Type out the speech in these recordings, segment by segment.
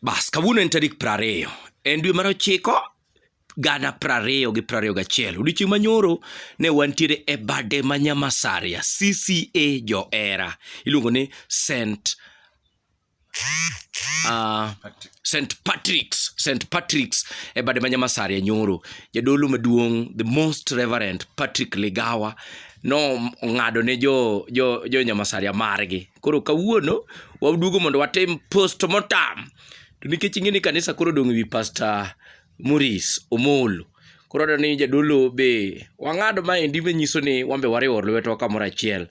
Bas, kawuono en tarik prariyo, en dwe mar ochiko gana prariyo gi prariyo gachiel. Odiochieng' manyoro ne wantiere e bade ma Nyamasaria, CCA Johera. Iluongo ni St. Uh, ah, St. Patrick's, St. Patrick's e bade ma Nyamasaria nyoro. Jadolo maduong', the most reverend Patrick Ligawa, no ong'ado ne jo, jo, jo Nyamasaria margi. Koro kawuono waduogo mondo watim post mortem. To nikech ing'e ni kanisa koro odong' ewi Pastor Maurice Omolo. Koro aneno ni jadolo be wang'ad maendi manyiso ni wan be wariwo lwetwa kamoro achiel.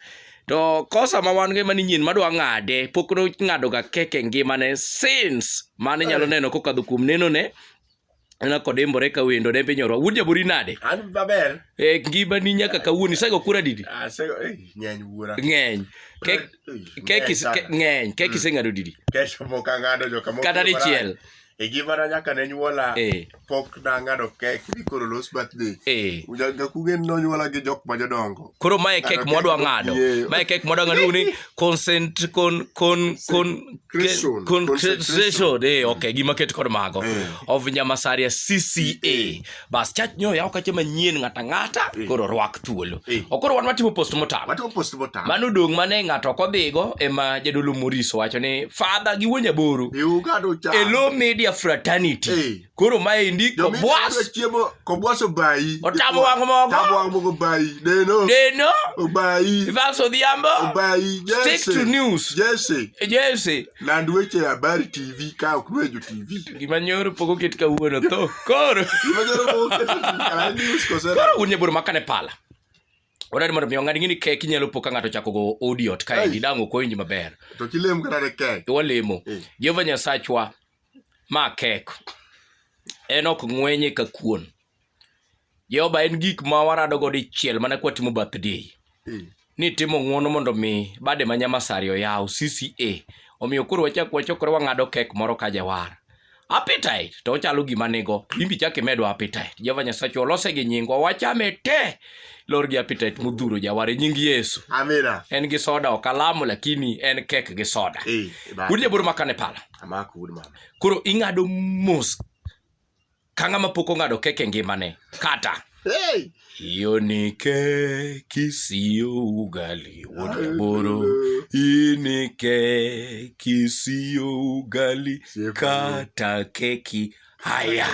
To kosa ma wan go ema ni nyien madwa ng'ade pok nong'adoga keke ngimane since mane nyalo neno kokadho kuom nenone Ana kodembore ka wendo ne pinyorwa. Wuod jabori nade? An maber. Eh ngima ni nyaka kawuono isego kura didi? Ah sego eh ng'eny wuora. Ng'eny. Kek kek ng'eny kek mm. iseng'ado didi? Kesho mok ang'ado jo kamoko. Kata dichiel. E gimana nyaka ne nyuola eh. pok nang'ado kek ni koro los birthday. Eh. Ujaga kugen nonyuola gi jok ma jodongo. Koro mae kek mwadwa ng'ado. Mae kek mwadwa ng'ado ni concentration eh mm. okay gima ket kod mago eh. of nyamasaria cca eh. bas chach nyo yaw kache manyien ng'ata ng'ata eh. koro rwak thuolo okoro wan watimo post motam watimo post motam mano dong mane ng'ato ok odhigo ema jadolo moriso wacho ni father gi wuonya boru e low media fraternity Koro maendi kobwas. Chiemo kobwas obayi. Otamo wang' mogo. Otamo wang' mogo obayi. Deno. Deno. Obayi. Evans Odhiambo. Obayi. Jesse. Stick to news. Jesse. Jesse. Land weche habari TV ka ok nwejo TV. Gima nyoro pogo ket kawuono to. Koro. Gima nyoro pogo ket kawuono news kosera. Koro wuon nyaboro makane pala. Odari mondo miyo ng'ani ng'ini kek inyalo po ka ng'ato chako go odiot kae gidang' ok owinj maber. To kilem kata ne kek. Walemo. Eh. Jehova Nyasachwa Ma kek. En ok ng'wenye ka kuon. Jehova en gik ma warado go dichiel mana kwa timo birthday. Mm. Ni timo ng'uono mondo mi bade ma nyamasari oyaw CCA. Omiyo koro wachak wachokore wang'ado kek moro ka jawar. Appetite to ochalo gima nigo. Imbi chak imedwa appetite. Jehova Nyasacho olose gi nyingwa. Wachame te. Lor gi appetite mudhuro jawar e nying Yesu. Amina. En gi soda ok alamo lakini en kek gi soda. Eh, Kundi jaboro makane pala. Amako wuod mama. Koro ing'ado mos ka ng'ama pok ong'ado kek e ngimane kata Hey! hiyo ni keki siyo ugali wuod jaboro hii ni keki siyo ugali kata keki haya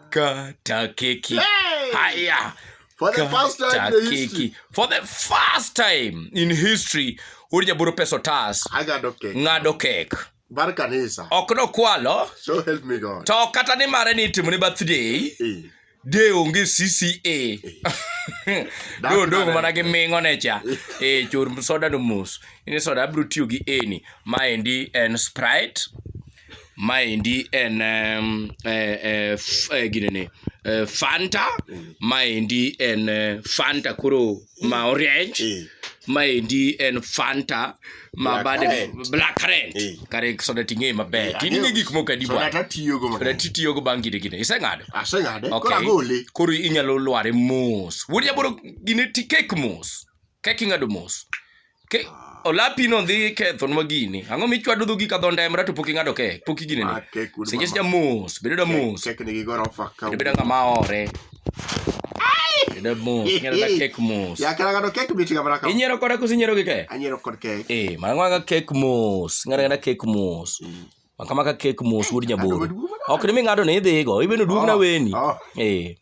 kata keki Hey! haya For the first time kata in the history. keki for the first time in history wuod jaboro peso tas I got okay. ng'ado kek Bar kanisa. Ok nokwalo. So help me God. To kata ni mare ni itimo ne birthday. Eh. De onge CCA. Eh. Do do mana gi mingo ne cha. Eh chor soda no mos. Ini soda abro tiyo gi eni. Ma endi en Sprite. Ma endi en um, eh, eh, eh, ginene. Eh, Fanta. Mm. Ma endi en eh, Fanta koro ma orieny Eh. maendi en fanta ma Black bade currant. black currant Eh. kare soda ting'eye maber Yeah, tining'e ang'eyo. gik moko adi Soda bwana tatiyogo soda mang'eny. titiyogo bang' kinde kinde iseng'ado Aseng'ade. Koro Okay. agole. koro inyalo lware mos wuod jaboro gine ti kek mos kek ing'ado mos Ke, olapi no dhi ketho nwa gini. Ang'o michwado dhogi ka dho ndemra to pok ing'ado kek, pok igine ni. Ah, kek wuod Seche mama. seche mos, bedo da mos. Kek nigi gorofa ka. Bedo bedo ng'ama ore. Bedo mos, ng'ero da kek mos. Ya kala ngado kek biti kamera ka. Inyiero koda koso inyiero gi kek? Anyero kod kek. Eh, mang'waga kek mos, ng'ero da kek mos. Maka maka kek mos wuod nyaboro. Ok ni ming'ado ni idhigo, ibeno duogna oh, weni. Oh. Eh.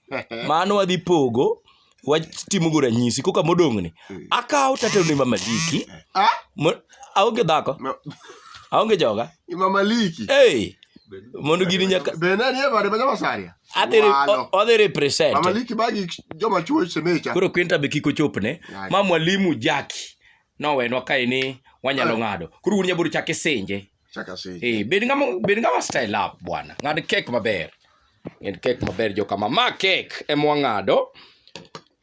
Mano wadhi pogo watimo go ranyisi koka modong'ni. Hmm. Akawo tato ni Mama Liki. Ah? Aonge dhako. Aonge joga. Mama Liki. Eh. Mondo gini nyaka Bena ni ema de masaria. Adhi adhi represent. Mama Liki bagi joma chuo semecha. Koro kwenta be kiko chopne. Ma mwalimu Jaki. Nowenwa kae ni wanyalo ah. ng'ado. Koro wuod nyaboro chake senje. Chaka sage. Eh, bed ngama bed ngama style up bwana. Ng'ad kek maber. Ng'ad kek maber joka ma ma kek e mwang'ado.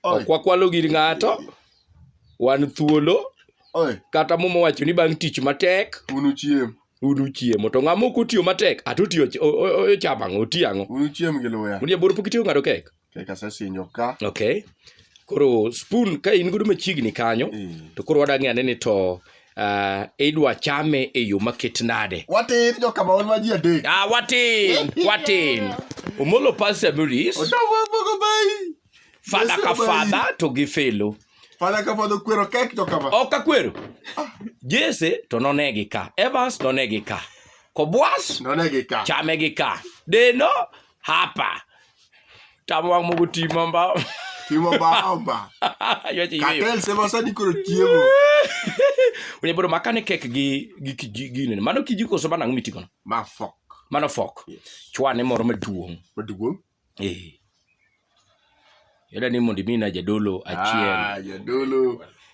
Oi. Ok wakwalo gir ng'ato. Wan thuolo Oi, kata momo wacho ni bang' tich matek unu chiem. unu chiemo to ng'ama ok otiyo matek ato otiyo ch- o- o- o- ochamo ang'o otiyo ang'o Unu chiem gi luya. unie bor pok itiyo ng'ado kek Okay, kasesinjo ka. Okay. Koro spoon ka in godo machiegni kanyo mm. to koro wadang'e ane ni to uh, idwa chame e yo maket nade watin jokamaon ma ji adek ah, watin watin omolo pastor maurice fadha ka fadha to gi felo fadha ka fadha okwero kek jokama ok akwero ah. jese to nonegi ka evans nonegi ka kobwas nonegi ka chame gi ka deno hapa Tamo wang' mogo timo mbao. Timo mbao mba. Ywa ji yweyo. Katel sema sani koro chiemo. Wene boro makane kek gi gi kiji gine. Mano kiji koso mana ng'umi tikono. Ma fok. Mano fok. Yes. Chwane moro maduong'. Maduong'. Eh. Yada ni mondi mina jadolo achiel. Ah, jadolo.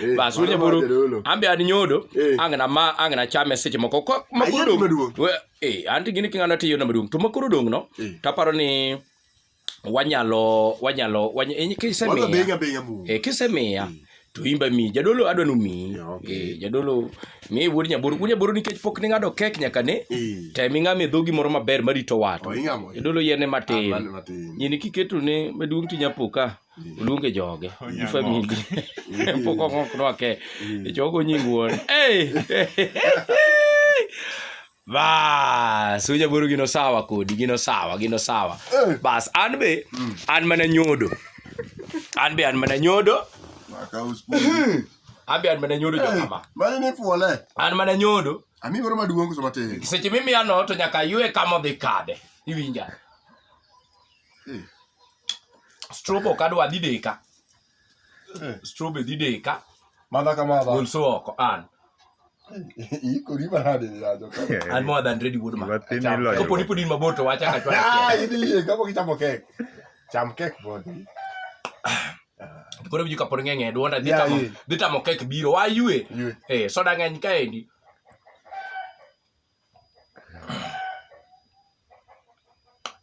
Eh, bas winy buru ambe ad nyodo eh. angna ma angna chame seche moko ko makuru dong eh anti gini kingana tiyo na madung to makuru dong no eh. taparo ni wanyalo wanyalo wanya enyi kise mi eh kise mi ya hmm. to imba mi jadolo adwa nu mi eh jadolo mi wuod nyaburu wuod nyaburu nikech pok ni ngado kek nyaka ne te mi ngame dhogi moro maber marito wato oh, jadolo yene matin ah, nyini kiketo ne maduong tinyapoka oluonge joge gi famili pok ong'ok nwake ichogo nying wuon bas ujaburu gino sawa kodi gino sawa gino sawa eh. bas an be mm. an mana nyodo an be an mana nyodo an be an mana nyodo jokama eh, an mana nyodo seche mimiya no to nyaka ywe kama odhi kade iwinja Eh. Strobe ok adwa dhi deka. Eh. Strobe dhi deka. Madha ka madha. Gol so oko an. Iko riba hadi ni ajo. An more than ready wood man. Kapo ni pudin mabor to wacha ka chwa. Ah, idi ye kapo kichamo kek. Cham kek bodi. Koro biju kapo ng'eng'e duonda dhi tamo dhi tamo kek biro. Wa yue. Eh, soda ng'eny kaendi.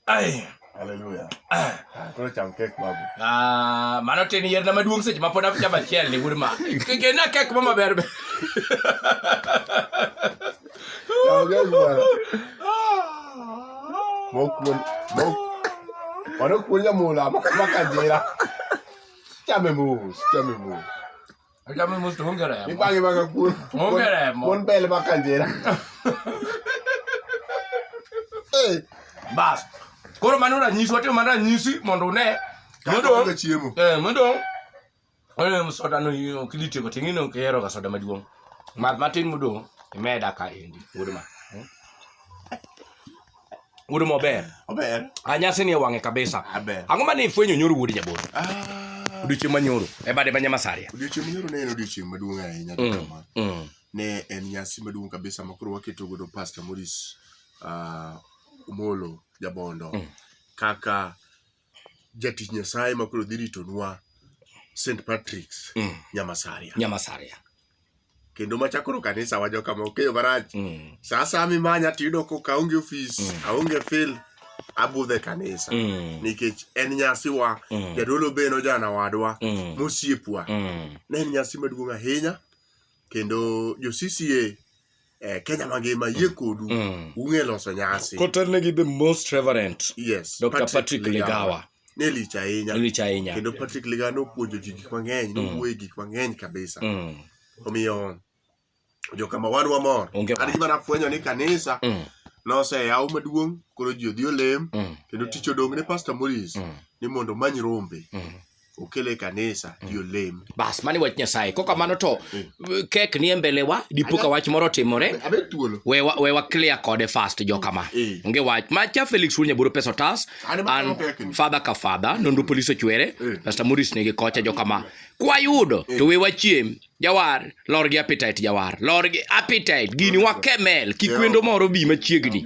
Ai. Hallelujah. Ah. Koro cham kek babu. Ah, mano tin yier na maduong' seche ma pod achamo achiel ni wuod ma. Kike na kek ma maber. be. Cham kek babu. Mokuon. Mok. Mano kuon nyamula ma- makajira. Chame mos, chame mos. Hocamız mutlu hongere ya. Bak bak bak. Kun, hongere ya. Kun bel bakan jera. Hey. Bas. Koro mano na nyisi watimo mana nyisi mondo une. Mondo chiemo. Eh, mondo. Oyo soda no yo kilite ko tingino kero ka soda maduong. Mat matin mudo imeda ka endi. Wuod ma. Wuod mober. Ober. A nyasi ni e wang'e kabisa. Aber. Ang'o ma ne ifwenyo nyoro wuod jabolo? Ah, Odiochieng' manyoro e bade ma Nyamasaria. odiochieng' manyoro ne en odiochieng' maduong' ahinya Mm. kama. Mm. Ne en nyasi maduong' kabisa ma koro waketo godo Pastor Maurice ah, Omolo Jabondo Mm. kaka jatich Nyasaye ma koro dhi ritonwa St. Patrick's Mm. Nyamasaria. Nyamasaria. Kendo ma chakoro kanisa wajo kama okeyo marach. Mm. Sa asaya mimanya tiyudo ko kaonge ofis, Mm. aonge fil, abudhe kanisa. Mm. Nikech en nyasiwa, Mm. jadolo beno jana wadwa, Mm. mosiepwa. Mm. Ne en nyasi maduong' ahinya. Kendo jo CCA eh, Kenya mangima yie kodu Mm. ung'e loso nyasi Kotelnegi the most reverend yes Dr. Patrick Ligawa. ne lich ahinya lich ahinya. kendo Patrick Ligawa nopuonjo ji gik mang'eny nowuoye gik mang'eny kabisa Mm. omiyo jokama wan wamor Onge an wach. gima nafwenyo ni kanisa Mm. noseyaw maduong' koro ji odhi olem Mm. kendo tich odong' ne Pastor Morris Mm. ni mondo omany rombe Mm. okele e kanisa mm. ji olem bas mani wach nyasaye kok kamano to mm. eh, kek nie mbelewa dipo ka wach moro otimore we waclear kode fast jo kama eh. onge wach macha felix wuod nyaburo pesa otas an fadha ka fadha nonro mm. polis ochwere eh. pasta moris nigi kocha jo kama kwayudo to we wachiem jawar lor gi appetite jawar lor gi appetite gini wakemel kikwendo moro bi machiegni